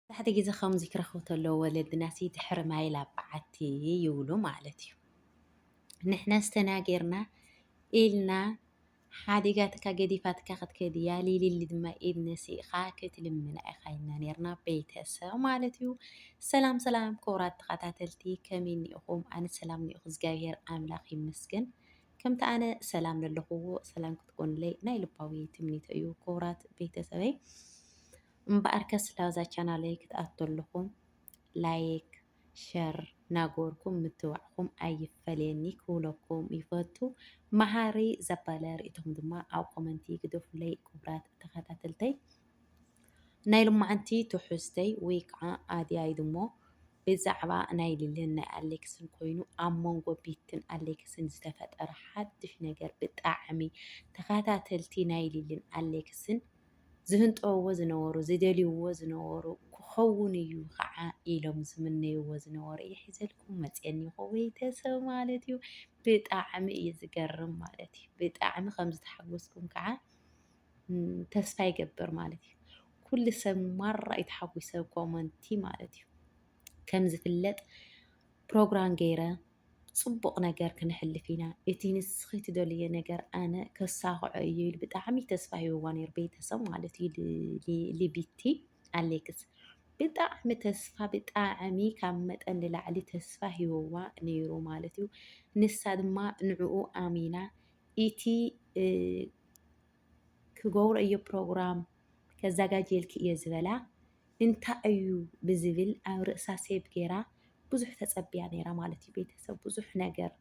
መብዛሕትኡ ግዜ ከምዚ ክረኽቡ ተለዉ ወለድናሲ ድሕሪ ማይ ላብ በዓቲ ይብሉ ማለት እዩ። ንሕናስ ተናጊርና ኢልና ሓዲጋትካ ገዲፋትካ ክትከድ እያ ሊሊሊ ድማ ኢድ ነሲእኻ ክትልምና ኢኻ ኢልና ነርና ቤተሰብ ማለት እዩ። ሰላም ሰላም ክቡራት ተኸታተልቲ ከመይ እኒኢኹም? ኣነ ሰላም እኒኦኹ እግዚኣብሄር ኣምላኽ ይመስገን። ከምቲ ኣነ ሰላም ለለኹዎ ሰላም ክትኮኑለይ ናይ ልባዊ ትምኒተይ እዩ ክቡራት ቤተሰበይ። እምበኣርከስ ላዛ ቻናለይ ክትኣቱ ኣለኹም ላይክ ሸር ናገበርኩም ምትብባዕኩም ኣይፈለየኒ ክብለኩም ይፈቱ። መሃሪ ዘበለ ርእይቶኹም ድማ ኣብ ኮመንቲ ግደፉለይ ክቡራት ተኸታተልተይ። ናይ ሎማዓንቲ ትሕዝተይ ወይ ከዓ ኣድያይ ድሞ ብዛዕባ ናይ ሊልን ናይ ኣሌክስን ኮይኑ ኣብ መንጎ ቤትን ኣሌክስን ዝተፈጠረ ሓድሽ ነገር ብጣዕሚ ተኸታተልቲ ናይ ሊልን ኣሌክስን ዝህንጠውዎ ዝነበሩ፣ ዝደልይዎ ዝነበሩ ክኸውን እዩ ኸዓ ኢሎም ዝምነይዎ ዝነበሩ እየ ሒዘልኩም መፅየ እኒኹ ቤተሰብ ማለት እዩ። ብጣዕሚ እዩ ዝገርም ማለት እዩ። ብጣዕሚ ከም ዝተሓጎስኩም ከዓ ተስፋ ይገብር ማለት እዩ። ኩሉ ሰብ ማራ እዩ ተሓጒሰ ኮመንቲ ማለት እዩ። ከም ዝፍለጥ ፕሮግራም ገይረ ጽቡቕ ነገር ክነሕልፍ ኢና፣ እቲ ንስኺ ትደልይዮ ነገር ኣነ ከሳኽዖ እየ ኢሉ ብጣዕሚ ተስፋ ሂብዋ ነይሩ፣ ቤተሰብ ማለት እዩ ልቢቲ ኣሌክስ ብጣዕሚ ተስፋ ብጣዕሚ ካብ መጠን ንላዕሊ ተስፋ ሂብዋ ነይሩ ማለት እዩ። ንሳ ድማ ንዕኡ ኣሚና እቲ ክገብሮ እየ ፕሮግራም ከዘጋጀልኪ እየ ዝበላ እንታይ እዩ ብዝብል ኣብ ርእሳ ሴቭ ጌራ ብዙሕ ተጸብያ ኔራ ማለት እዩ ቤተሰብ ብዙሕ ነገር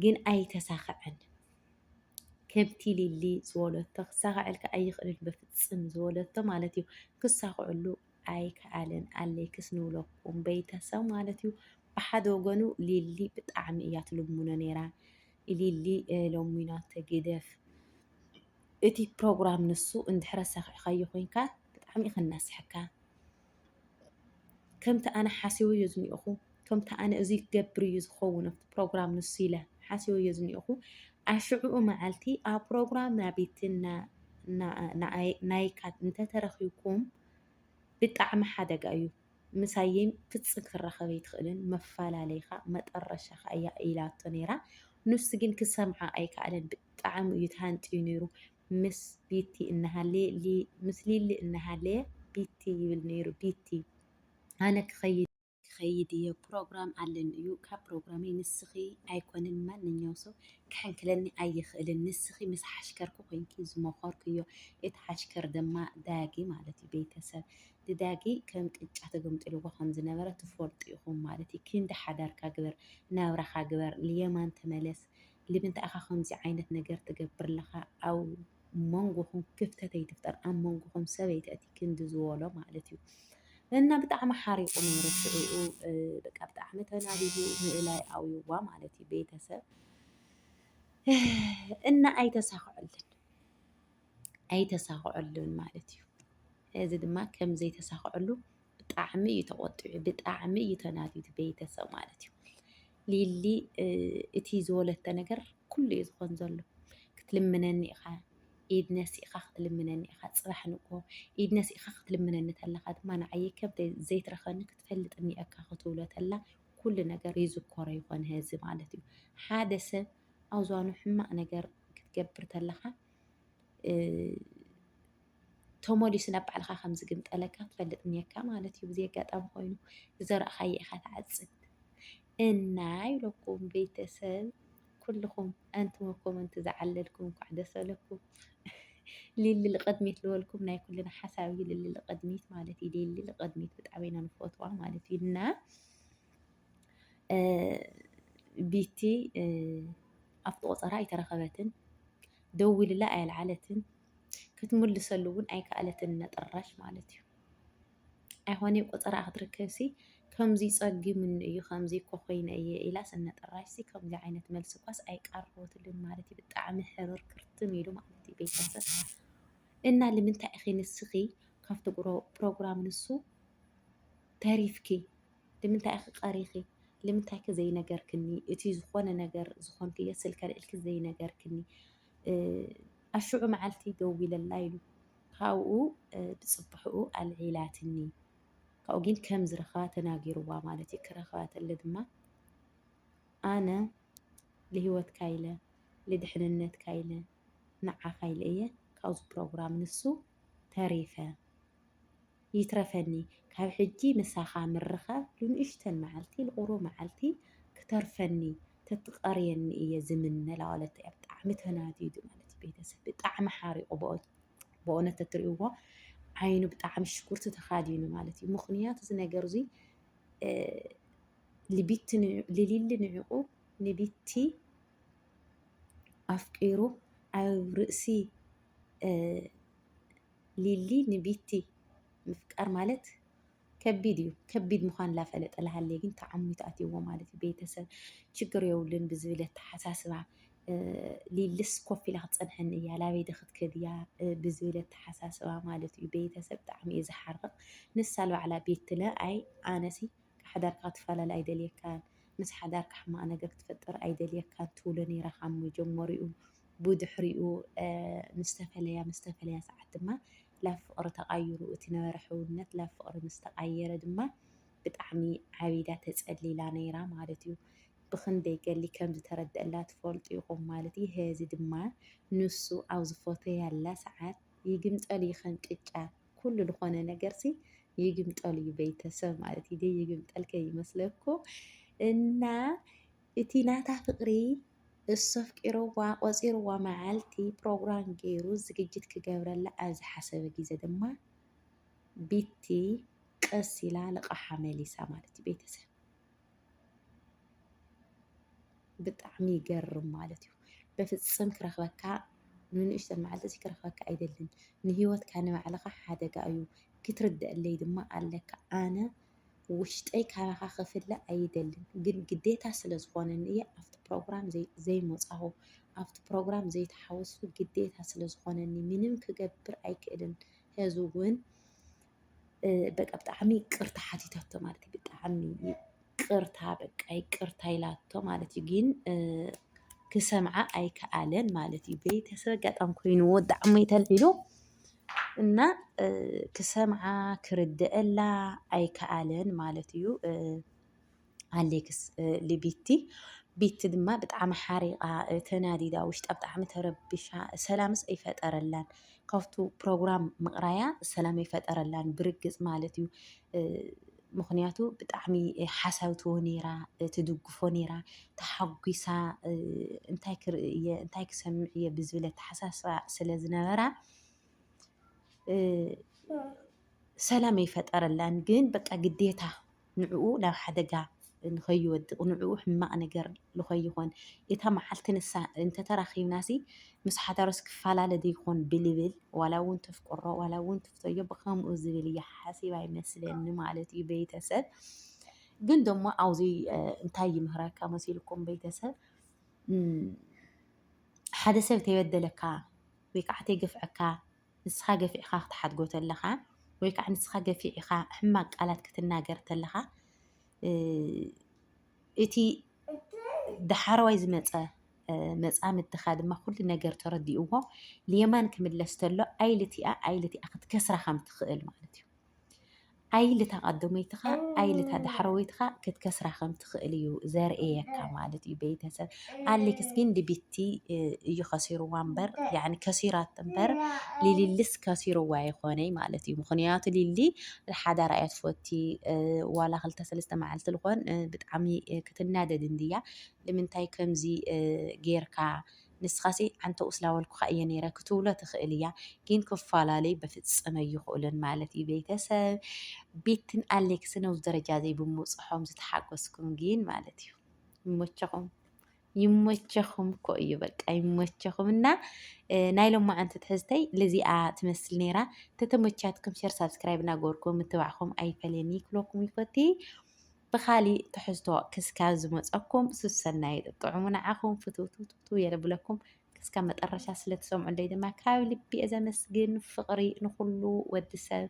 ግን ኣይተሳኸዐን። ከምቲ ሊሊ ዝበለቶ ክሳኸዐልካ ኣይኽእልን በፍጽም ዝበለቶ ማለት እዩ ክሳኸዐሉ ኣይከኣለን ኣሌክስ ንብለኩም ቤተሰብ ማለት እዩ። ብሓደ ወገኑ ሊሊ ብጣዕሚ እያ ትልምኖ ነይራ ሊሊ ለሚናቶ ግደፍ እቲ ፕሮግራም ንሱ እንድሕረ ሰኺዕካዮ ኮይንካ ብጣዕሚ እዩ ከናስሐካ ከምቲ ኣነ ሓሲበዮ ዝኒኦኹ ከምቲ ኣነ እዙይ ክገብር እዩ ዝኸውን ኣብቲ ፕሮግራም ንሱ ኢለ ሓሲበዮ ዝኒኦኹ ኣሽዕኡ መዓልቲ ኣብ ፕሮግራም ናቢቲ ናይካ እንተተረኺብኩም ብጣዕሚ ሓደጋ እዩ ምሳዬም ፍጽም ክትራኸብ ኣይትኽእልን መፋላለይኻ መጠረሻኻ እያ ኢላቶ ነይራ ንሱ ግን ክሰምዓ ኣይካኣለን ብጣዕሚ እዩ ተሃንጥዩ ነይሩ ምስ ቢቲ እናሃለየ ምስ ሊሊ እናሃለየ ቢቲ ይብል ነይሩ ቢቲ ኣነ ክኸይድ ክኸይድ እየ ፕሮግራም ኣለኒ እዩ ካብ ፕሮግራመይ ንስኺ ኣይኮንን ማንኛው ሰው ክሕንክለኒ ኣይኽእልን ንስኺ ምስ ሓሽከርኩ ኮንኪ ዝመኸርኩዮ እቲ ሓሽከር ድማ ዳጊ ማለት እዩ ቤተሰብ ድዳጊ ከም ቅጫ ተገምጢልዎ ከም ዝነበረ ትፈልጡ ኢኹም ማለት እዩ ክንዲ ሓዳርካ ግበር ናብራኻ ግበር ልየማን ተመለስ ልምንታይ ኢኻ ከምዚ ዓይነት ነገር ትገብር ለኻ ኣብ መንጎኹም ክፍተት ኣይትፍጠር ኣብ መንጎኹም ሰብ ኣይተእቲ ክንዲ ዝበሎ ማለት እዩ እና ብጣዕሚ ሓሪቑ ነይሩ ሽዕኡ በቃ ብጣዕሚ ተናዲዱ ንእላይ ኣውዩዋ ማለት እዩ ቤተሰብ እና ኣይተሳኽዐልን ኣይተሳኽዐሉን ማለት እዩ። እዚ ድማ ከም ዘይተሳኽዐሉ ብጣዕሚ እዩ ተቖጢዑ፣ ብጣዕሚ እዩ ተናዲዱ እቲ ቤተሰብ ማለት እዩ። ሊሊ እቲ ዝወለቶ ነገር ኩሉ እዩ ዝኾን ዘሎ። ክትልምነኒ ኢኻ ኢድ ነሲእኻ ክትልምነኒ ኢኻ ፅባሕ ንግሆ ኢድ ነሲእኻ ክትልምነኒ ተለኻ ድማ ንዓይ ከብደይ ዘይትረኸኒ ክትፈልጥ እኒአካ ክትብሎ ተላ ኩሉ ነገር ይዝኮሮ ይኾን ህዚ ማለት እዩ። ሓደ ሰብ ኣብ ዝባኑ ሕማቕ ነገር ክትገብር ተለኻ ተመሊሱ ናብ ባዕልኻ ከም ዝግምጠለካ ትፈልጥ እኒሀካ ማለት እዩ። ብዘይ ኣጋጣሚ ኮይኑ ዝዘራእኻዮ ኢኻ ትዓፅድ እና ይብለኩም ቤተሰብ ኩልኹም ኣንቱም ኣብ ኮመንቲ ዝዓለልኩም እንኳዕ ደስ በለኩም። ሊሊ ልቐድሚት ዝበልኩም ናይ ኩልና ሓሳብ እዩ። ሊሊ ልቐድሚት ማለት እዩ። ሊሊ ልቐድሚት ብጣዕሚ ኢና ንፈትዋ ማለት እዩ እና ቢቲ ኣብቲ ቆፀራ ኣይተረኸበትን፣ ደዊልላ ኣየልዓለትን፣ ክትምልሰሉ እውን ኣይከኣለትን ነጠራሽ ማለት እዩ። ኣይኾነ ቆፀራ ክትርከብሲ ከምዚ ፀጊሙኒ እዩ ከምዚ እኮ ኮይነ እየ ኢላስ እነጠራሽሲ ከምዚ ዓይነት መልሲ እኳስ ኣይቀረበትሉን ማለት እዩ። ብጣዕሚ ሕርር ክርትም ኢሉ ማለት እዩ ቤተሰብ እና ልምንታይ ኢኺ ንስኺ ካብቲ ፕሮግራም ንሱ ተሪፍኪ ልምንታይ ኢኺ ቀሪኺ ልምንታይከ ዘይነገርክኒ እቲ ዝኾነ ነገር ዝኾንክዮ ስልኪ ኣልዒልኪ ዘይነገርክኒ ኣሽዑ መዓልቲ ደዊለላ ኢሉ ካብኡ ብጽብሕኡ ኣልዒላትኒ ካብኡ ግን ከም ዝረኸባ ተናጊርዋ ማለት እዩ ክረኸባ ተለ ድማ ኣነ ልህይወትካ ኢለ ልድሕንነትካ ኢለ ንዓኻ ኢለ እየ ካብዚ ፕሮግራም ንሱ ተሪፈ ይትረፈኒ ካብ ሕጂ ምሳኻ ምርኻብ ልንኡሽተን መዓልቲ ልቁሩብ መዓልቲ ክተርፈኒ ተትቀርየኒ እየ ዝምነ እላ በለት እያ ብጣዕሚ ተናዲዱ ማለት እዩ ቤተሰብ ብጣዕሚ ሓሪቁ ብእውነት ተትሪእዎ ዓይኑ ብጣዕሚ ሽኩርቲ ተኻዲኑ ማለት እዩ ምክንያቱ እዚ ነገር እዙይ ልቢቲ ልሊሊ ንዕቁ ንቢቲ ኣፍቂሩ ኣብ ርእሲ ሊሊ ንቢቲ ምፍቃር ማለት ከቢድ እዩ ከቢድ ምዃን ላፈለጠ ላሃለየ ግን ተዓሚቱ ኣትይዎ ማለት እዩ ቤተሰብ ችግር የብሉን ብዝብል ኣተሓሳስባ ሊልስ ኮፍ ኢላ ክትፀንሐኒ እያ ላበይ ዶ ክትከድ እያ ብዝብል ኣተሓሳስባ ማለት እዩ ቤተሰብ ብጣዕሚ እዩ ዝሓርቕ ንሳ ልባዕላ ቤት ትለ ኣይ ኣነሲ ሓዳርካ ክትፈላለ ኣይደልየካን ምስ ሓዳርካ ሕማቕ ነገር ክትፈጥር ኣይደልየካን ትብሎ ነይራ ካብ መጀመሪኡ ብድሕሪኡ ምስ ተፈለያ ምስ ተፈለያ ሰዓት ድማ ላብ ፍቅሪ ተቃይሩ እቲ ነበረ ሕውነት ላብ ፍቅሪ ምስ ተቃየረ ድማ ብጣዕሚ ዓቢዳ ተጸሊላ ነይራ ማለት እዩ። ብኽንደይ ገሊ ከም ዝተረደኣላ ትፈልጡ ኢኹም ማለት እዩ። ሔዚ ድማ ንሱ ኣብ ዝፎተያላ ሰዓት ይግምጠሉ እዩ ከም ቅጫ ኩሉ ዝኾነ ነገርሲ ይግምጠሉ እዩ ቤተሰብ ማለት እዩ። ዘይግምጠል ከይመስለኩም እና እቲ ናታ ፍቅሪ እሱ ኣፍቂርዋ ቆጺርዋ መዓልቲ ፕሮግራም ጌሩ ዝግጅት ክገብረላ ኣብ ዝሓሰበ ግዜ ድማ ቢቲ ቀስ ኢላ ልቃሓ መሊሳ ማለት እዩ ቤተሰብ ብጣዕሚ ይገርም ማለት እዩ በፍጽም ክረክበካ ንንእሽተ መዓልቲ እዚ ክረክበካ ኣይደልን ንሂወትካ ንባዕልካ ሓደጋ እዩ ክትርደአለይ ድማ ኣለካ ኣነ ውሽጠይ ካባኻ ክፍለ ኣይደልን ግን ግዴታ ስለ ዝኾነኒ እየ ኣብቲ ፕሮግራም ዘይመፃኹ ኣብቲ ፕሮግራም ዘይተሓወስኩ ግዴታ ስለ ዝኾነኒ ምንም ክገብር ኣይክእልን ሕዚ እውን በቃ ብጣዕሚ ይቅርታ ሓቲታቶ ማለት እዩ ብጣዕሚ ይቅርታ በቃ ይቅርታ ኢላቶ ማለት እዩ ግን ክሰምዓ ኣይከኣለን ማለት እዩ ቤተሰብ ኣጋጣሚ ኮይኑዎ ዳዕሞ ተልዒሉ እና ክሰምዓ ክርድአላ ኣይከኣለን ማለት እዩ ኣሌክስ ልቢቲ ቤቲ ድማ ብጣዕሚ ሓሪቓ ተናዲዳ ውሽጣ ብጣዕሚ ተረቢሻ ሰላምስ ኣይፈጠረላን ካብቱ ፕሮግራም ምቕራያ ሰላም ኣይፈጠረላን ብርግፅ ማለት እዩ። ምኽንያቱ ብጣዕሚ ሓሳብ ትቦ ነይራ ትድግፎ ነይራ ተሓጒሳ እንታይ ክርኢ እየ እንታይ ክሰምዕ እየ ብዝብል ኣተሓሳስባ ስለ ዝነበራ ሰላም ኣይፈጠረላን ግን በቃ ግዴታ ንዕኡ ናብ ሓደጋ ንኸይወድቕ ንዕኡ ሕማቕ ነገር ልኸይኾን እታ መዓልቲ ንሳ እንተተራኺብናሲ ምስ ሓዳሩስ ክፈላለ ደይኮን ብልብል ዋላውን ተፍቅሮ ዋላውን ትፍተዮ ብኸምኡ ዝብል እያ ሓሲባ ይመስለኒ ማለት እዩ ቤተሰብ ግን ደሞ ኣውዙይ እንታይ ይምህረካ መሲልኩም ቤተሰብ ሓደ ሰብ ተይበደለካ ወይ ከዓ ተይገፍዐካ ንስኻ ገፊዕኻ ክትሓድጎ ተለኻ ወይ ከዓ ንስኻ ገፊዕኻ ሕማቅ ቃላት ክትናገር ተለኻ እቲ ዳሓረዋይ ዝመፀ መፃምድትኻ ድማ ኩሉ ነገር ተረዲእዎ ልየማን ክምለስ ተሎ ኣይልቲኣ ኣይልቲኣ ክትከስራ ከም ትኽእል ማለት እዩ ኣይልታ ቀደመይትኻ ኣይልታ ዳሕረወይትኻ ክትከስራ ከም ትኽእል እዩ ዘርእየካ ማለት እዩ ቤተሰብ ኣሌክስ ግን ንቢቲ እዩ ከሲርዋ እምበር ያኒ ከሲራት እምበር ሊሊልስ ከሲርዋ ይኾነይ ማለት እዩ ምክንያቱ ሊሊ ሓዳር እያ ትፈቲ ዋላ ክልተ ሰለስተ መዓልቲ ዝኾን ብጣዕሚ ክትናደድ እንድያ ንምንታይ ከምዚ ጌርካ ንስኻሲ ኣንተ ስላወልኩኻ እየ ነይረ ክትብሎ ትኽእል እያ ግን ክፈላለዩ በፍፅም ኣይኽእሉን ማለት እዩ ቤተሰብ ቤትን ኣሌክስን ኣብዚ ደረጃ ዘይብምብፅሖም ዝተሓጎስኩም ግን ማለት እዩ ይሞቸኹም ይሞቸኹም እኮ እዩ በቃ ይሞቸኹም። እና ናይ ሎማዓንቲ ትሕዝተይ ልዚኣ ትመስል ነይራ ተተሞቻትኩም ሸር ሳብስክራይብ እናገበርኩም ምትባዕኹም ኣይፈለየኒ ክለኩም ይፈቲ ብካሊእ ትሕዝቶ ክስካብ ዝመፀኩም ሱሰናይ ጥዑሙ ንዓኹም ፍትውትውትው የለብለኩም ክስካብ መጠረሻ ስለትሰምዑለይ ድማ ካብ ልቢ እየ ዘመስግን ፍቅሪ ንኩሉ ወዲ ሰብ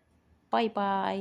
ባይ ባይ